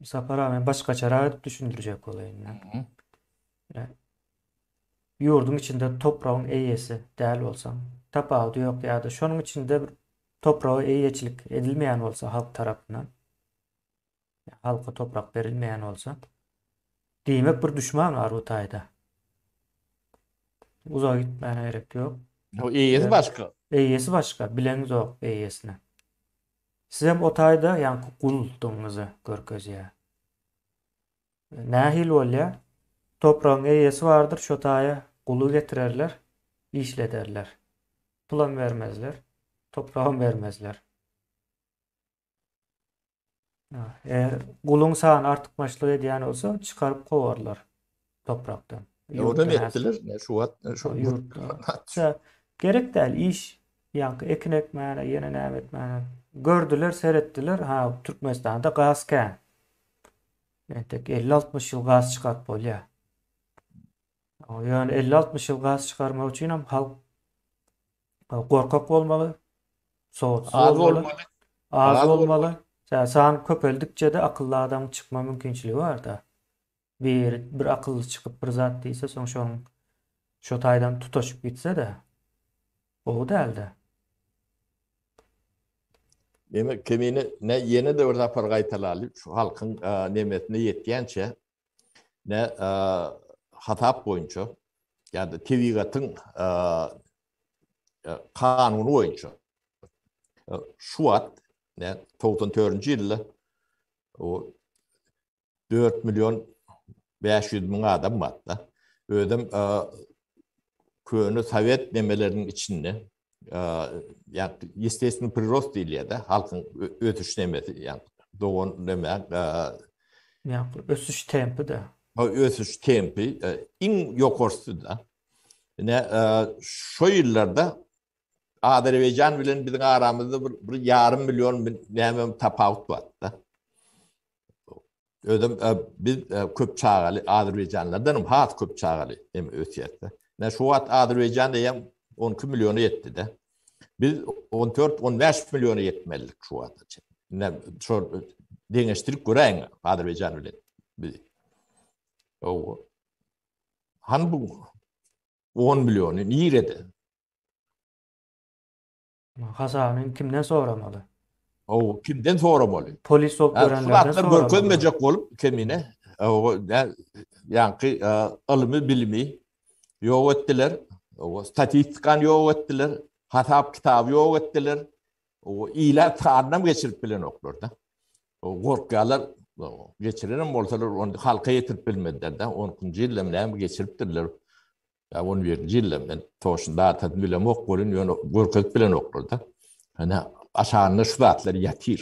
Sapar aga, men başgaçarak edip düşündirjek bolaýyn. Mhm. Ýa, Ýurduň içinde topragyň eýesi däl bolsaň, tapawudy ýok ýa-da şonuň içinde bir topraga eýeçilik edilmeýän bolsa halk tarapyndan, ýa halka toprak berilmeýän bolsa, diýmek bir duşman bar bu taýda. Uzaga gitmäne gerek ýok. Ýa, eýesi Ýa, başga. eýesi başga, bileňizok eýesini. Sizem o taýda ýaňky gunduldygyňyzy görkezýär. Nähili bolýar? Topragyň eýesi bardyr, şo taýa guly getirerler, işlederler. Pulam bermezler, topragam bermezler. Eger guluň sany artykmaçlyk edýän bolsa, çykaryp kowarlar. toprakda. Ýurda netdiler, şu wagt şu ýurtda. Gerek däl iş, ýaňky ekin ekmäne, ýene näme etmäne. Gördüler, seretdiler, ha, Türkmenistanda gaz kän. Entek 50-60 ýyl gaz çykaryp bolýar. Ýöne 50-60 ýyl gaz çykarmak üçin hem halk gorkak bolmaly, sowatsyz bolmaly, az bolmaly. San köpeldikçe-de akylly adam çykma mümkinçiligi bar-da. Bir, bir akylly çykyp bir zat diýse, soň şoň şo taýdan tutaşyp gitse-de, gowy däl-dä. Demek, Kemine, nä ýene-de bir sapar gaýtalaly, şu halkyň nemesine ýetýänçä, nä hasap boýunça, ýa-da tebigatyň kanuny boýunça, şu wagt, nä togsan törünji ýylda, o 4 million 500 müň adam barda. Özüm köne sovet nemeleriniň içinde ýa ýesteýsini prirost diýilýär de halkyň ösüş nemesi ýa dogan neme ýa ösüş tempi de. O ösüş tempi iň ýokarsy da. Ine şu ýyllarda Azerbaýjan bilen biziň aramyzda bir ýarym million näme tapawut bar da. özüm biz köp çagaly azerbaýjanlardanam has köp çagaly hem ösýärdi. Näme şu wagt Azerbaýjan diýen 12 milliona ýetdi-de. Biz 14-15 milliona ýetmelidik şu wagta çenli. Näme şu deňeşdirip göräýiň Azerbaýjan bilen biz. Owa. Han bu 10 milliony nirede? Hasabyny kimden soramaly? Hawa, kimden soramaly? Polis bolup görenlerden soramaly. Suratlar görkezmejek bolup kemine. Hawa, ýaňky ylmy bilimi ýok etdiler. Hawa, statistikany ýok etdiler. Hasap kitaby ýok etdiler. Hawa, ile sanynam geçirip bilenoklar-da. Gorkýarlar, geçirenem bolsalar, ony halka ýetirip bilmediler-de. On ikinji ýylda näme geçiripdirler. Ýa on birinji ýylda men toşun datasyny bilemok welin ýöne görkezip bilenoklar-da. Ine, aşagynda şu zatlar ýatyr.